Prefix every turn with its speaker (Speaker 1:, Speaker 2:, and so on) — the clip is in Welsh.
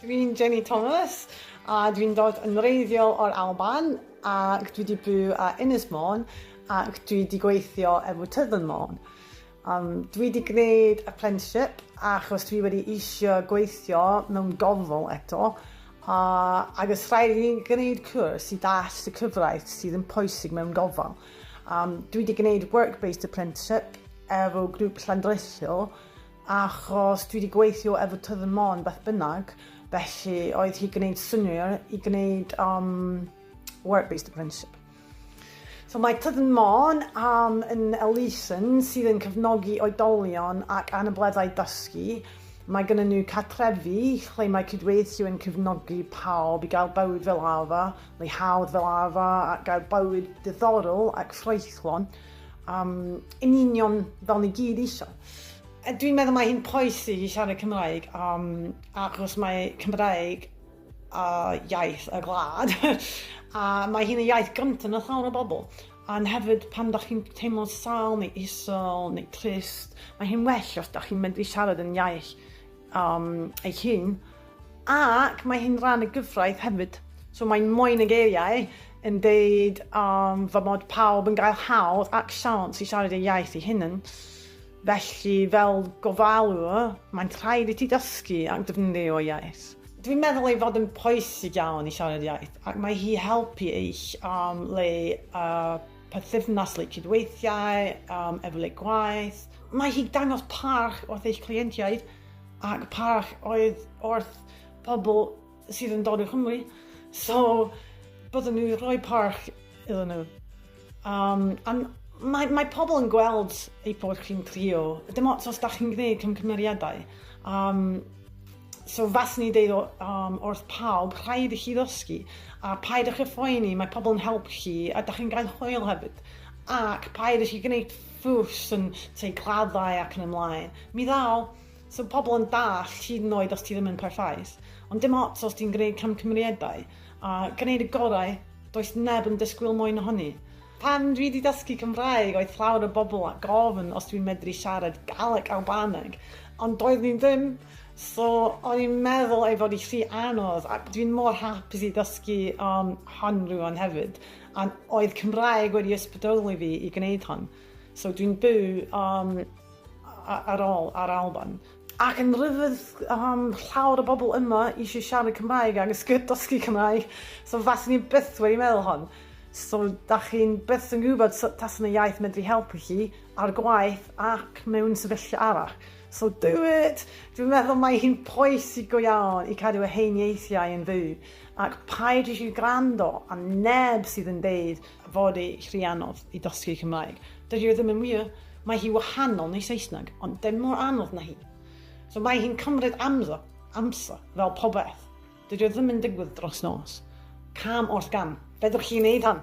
Speaker 1: Dwi'n Jenny Thomas a dwi'n dod yn wreiddiol o'r Alban ac dwi 'di byw a Ynys Môn ac dwi 'di gweithio efo Tyddyn Môn. Um, dwi 'di gwneud apprenticeship achos dwi wedi eisiau gweithio mewn gofal eto a agos rhaid i ni gwneud cwrs i dall y cyfraith sydd yn pwysig mewn gofal. Um, dwi wedi gwneud work-based apprenticeship efo grŵp llandreithio achos dwi wedi gweithio efo Tydd y Mon beth bynnag, felly oedd hi gwneud syniau i gwneud um, work-based apprenticeship. So mae Tydd y Mon um, yn elusen sydd yn cefnogi oedolion ac anableddau dysgu. Mae gennym nhw catrefi lle mae cydweithio yn cefnogi pawb i gael bywyd fel arfer, Mae hawdd fel arfer gael bywyd diddorol ac ffraethlon, um, yn union fel ni gyd eisiau. A dwi'n meddwl mae hi'n pwysig i siarad Cymraeg, um, achos mae Cymraeg a iaith y gwlad, a mae hi'n y iaith gyntaf na llawer o bobl. Ond hefyd, pan da chi'n teimlo sal neu isol neu trist, mae hi'n well os da chi'n medru siarad yn iaith um, eich hun. Ac mae hi'n rhan y gyfraith hefyd. So mae'n moyn y geiriau yn deud um, fy mod pawb yn gael hawdd ac siawns i siarad ei iaith ei hunan. Felly, fel gofalwr, mae'n rhaid i ti dysgu ac defnyddio iaith. Dwi'n meddwl ei fod yn pwysig iawn i siarad iaith, ac mae hi helpu eich um, le uh, perthynas, le cydweithiau, um, efle gwaith. Mae hi dangos parch wrth eich cleientiaid Ac parch oedd wrth pobl sydd yn dod o Cymru, so byddwn nhw'n rhoi parch iddyn nhw. Um, a mae, mae pobl yn gweld ei bod chi'n trio, dim ots os da chi'n gwneud cymgymeriadau. Um, so fas ni deud um, wrth pawb, rhaid i chi ddysgu, a paid â chyffoeni, mae pobl yn help chi, a da chi'n gael hwyl hefyd. Ac paid i chi gwneud fws yn tŷ claddau ac yn y mlaen. Mi ddaw. So pobl yn dallt hyd yn oed os ti ddim yn perffaith. Ond dim ots os ti'n gwneud camgymeriadau a gwneud y gorau, does neb yn disgwyl mwy na hynny. Pan dwi 'di dysgu Cymraeg oedd llawer o bobl a gofyn os dwi'n medru siarad Galeg Albaneg ond doeddwn i ddim so o'n i'n meddwl ei fod i rhy anodd ac dwi'n mor hapus i ddysgu hon rŵan hefyd. A oedd Cymraeg wedi ysbrydoli fi i gwneud hon. So dwi'n byw um, ar ôl ar Alban. Ac yn rhyfedd um, llawer o bobl yma eisiau siarad Cymraeg ac ysgyd dysgu Cymraeg. So fas ni'n byth wedi meddwl hon. So da chi'n byth yn gwybod sut tas yna iaith medru helpu chi ar gwaith ac mewn sefyllfa arall. So do it! Dwi'n meddwl mae hi'n pwysig go iawn i cadw y hen ieithiau yn fyw Ac paid i chi gwrando ar neb sydd yn deud fod ei rhy anodd i dosgi Cymraeg. Dydi o ddim yn wir. Mae hi wahanol neu Saesneg, ond dim mor anodd na hi. So mae hi'n cymryd amser, amser, fel popeth. Dydi o ddim yn digwydd dros nos. Cam wrth gam. Fedrwch chi wneud hwn.